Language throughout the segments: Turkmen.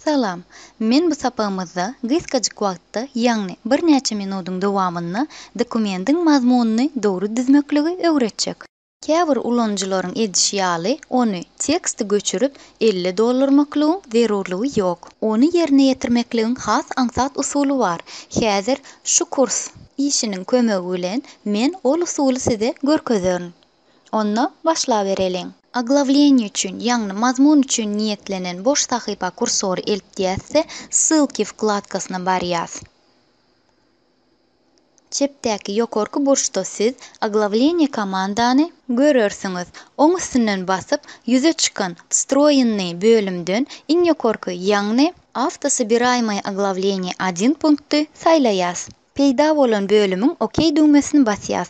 Salam. Men bu sapagymyzda gysgajyk wagtda, ýagny birnäçe minudyň dowamynda dokumendiň mazmunyny dogry düzmekligi öwretjek. Käbir ulanyjylaryň edişi ýaly, ony teksti göçürip, elle doldurmaklygyň zerurlygy ýok. Ony ýerine ýetirmekligiň has aňsat usuly bar. Häzir şu kurs işiniň kömegi bilen men ol usuly size görkezerin. Onda başlabereliň. Oglawleniýe üçin, ýagny mazmun üçin niýetlenen boş sahypa kursory eltýäs-de, Ssylki wkladkasyna barýas. Çepdäki ýokarky burçda siz Oglawleniýe komandany görersiňiz. Oň üstünden basyp, ýüze çykan Wstroýennyý bölümden iň ýokarky, ýagny. Awtosobiraýmaýe Oglawleniýe один punkty saýlaýas. Peýda bolan bölümiň OK düwmesini basýas.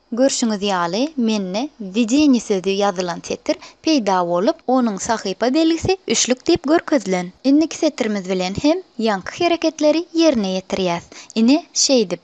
Görşüňiz ýaly, mende Wwedeniýe sözi ýazylan setir peýda bolup, onuň sahypa belgisi üçlük diýip görkezilen. Indiki setirimiz bilen hem ýaňky hereketleri ýerine ýetirýäs. Ine, şeýdip.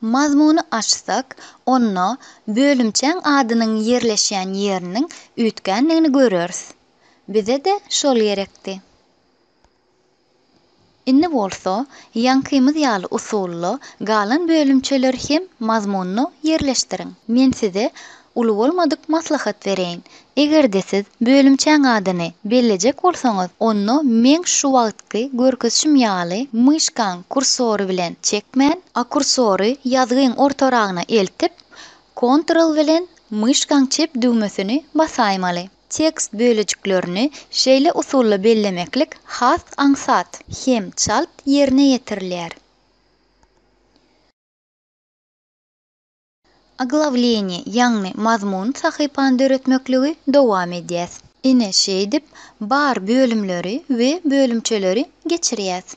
Mazmuny açsak, onda bölümçäň adynyň ýerleşýän ýeriniň üýtgändigini göreris. Bize-de şol gerekdi. Indi bolsa, ýaňkymyz ýaly usulda galan bölümçeleri hem mazmunda ýerleşdiriň. Men size Uly bolmadyk maslahat bereýin. Eger-de siz bölümçäň adyny bellejek bolsaňyz, onda meň şu wagtky görkezişim ýaly myşkaň kursory bilen çekmän, a kursory ýazgyň ortaragyna eltip, Ctrl bilen myşkaň çep düwmesini basaýmaly. Tekst bölejiklerini şeýle usulda bellemeklik has aňsat hem çalt ýerine ýetirilýär. Oglawleniýe, ýagny mazmun sahypany döretmekligi dowam edýäs. Ine, şeýdip, bar bölümleri we bölümçeleri geçirýäs.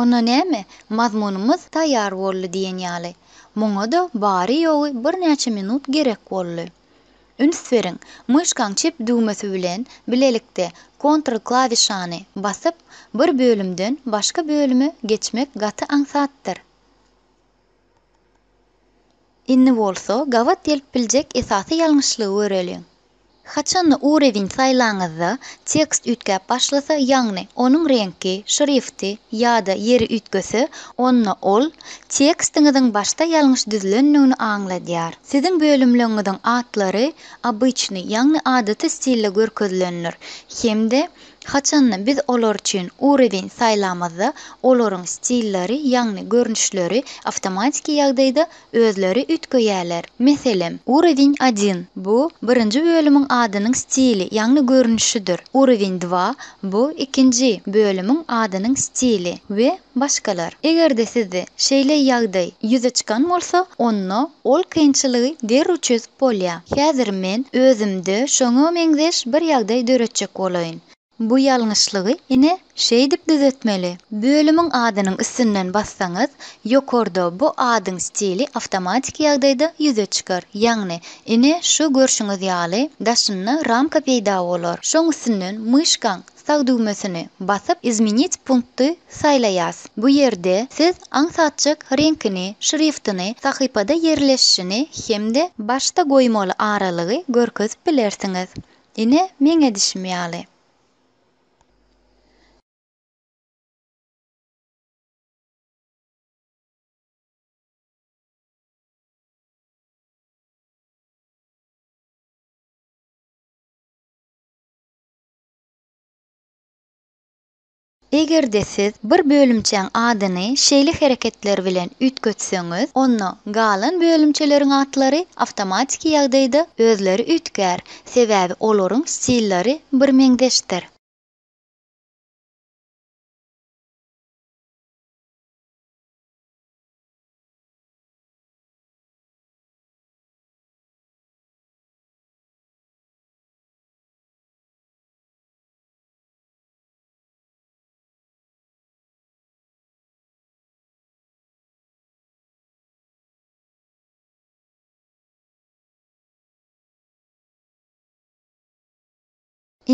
Onda näme, mazmunymyz taýýar boldy diýen ýaly. Muňa-da bary-ýogy birnäçe minut gerek boldy. Üns beriň, myşkaň çep düwmesi bilen bilelikde Ctrl klawişany basyp, bir bölümden başga bölüme geçmek gaty aňsatdyr. Indi bolsa gabat gelip biljek esasy ýalňyşlygy göreliň. Haçanda urewin saýlaňyzda tekst üýtgäp başlasa, ýagny onuň reňki, şrifti ýa-da ýeri üýtgese, onda ol tekstiňiziň başda ýalňyş düzülendigini aňladýar. Siziň bölümleňiziň atlary obyçnyý, ýagny adaty stilde görkezilendir hem-de Haçanda biz olar üçin ureweň saýlamazda, olaryň stilleri, ýagny görnüşleri awtomatiki ýagdaýda özleri üýtgeýärler. Meselem, Ureweň один, bu birinji bölümiň adynyň stili, ýagny görnüşidir, Ureweň dva, bu ikinji bölümiň adynyň stili we başgalar. Eger-de sizde şeýle ýagdaý ýüze çykan bolsa, onda ol kynçylygy derrew çözüp Bolýa. Häzir men özümde şoňa meňzeş bir ýagdaý döretjek bolaýyn. Bu ýalňyşlygy, ine, şeýdip düzetmeli. Bölümiň adynyň üstünden bassaňyz, ýokarda bu adyň stili awtomatiki ýagdaýda ýüze çykar. Ýagny, ine, şu görşüňiz ýaly, daşynda ramka peýda bolar. Şoň üstünden myşkaň Sag düwmesini basyp Izmenit punkty saýlaýas. Bu ýerde siz aňsatjyk reňkini, şriftini, sahypada ýerleşişini hem-de başda goýmaly aralygy görkezip bilersiňiz. Ine, meň edişim ýaly. Eger-de siz bir bölümçäň adyny şeýle hereketler bilen üýtgetseňiz, onda galan bölümçeleriň atlary awtomatiki ýagdaýda özleri üýtgär, sebäbi olaryň stillary birmeňzeşdir.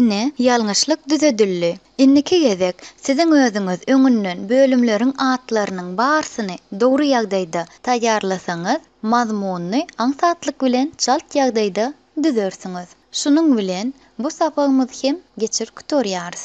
Ine, ýalňyşlyk düzedildi. Indiki gezek siziň özüňiz öňünden bölümleriň atlarynyň barsyny dogry ýagdaýda taýýarlasaňyz, mazmunyny aňsatlyk bilen çalt ýagdaýda Düzersiňiz. Şunuň bilen bu sapagymyzy hem geçirip gutarýarys.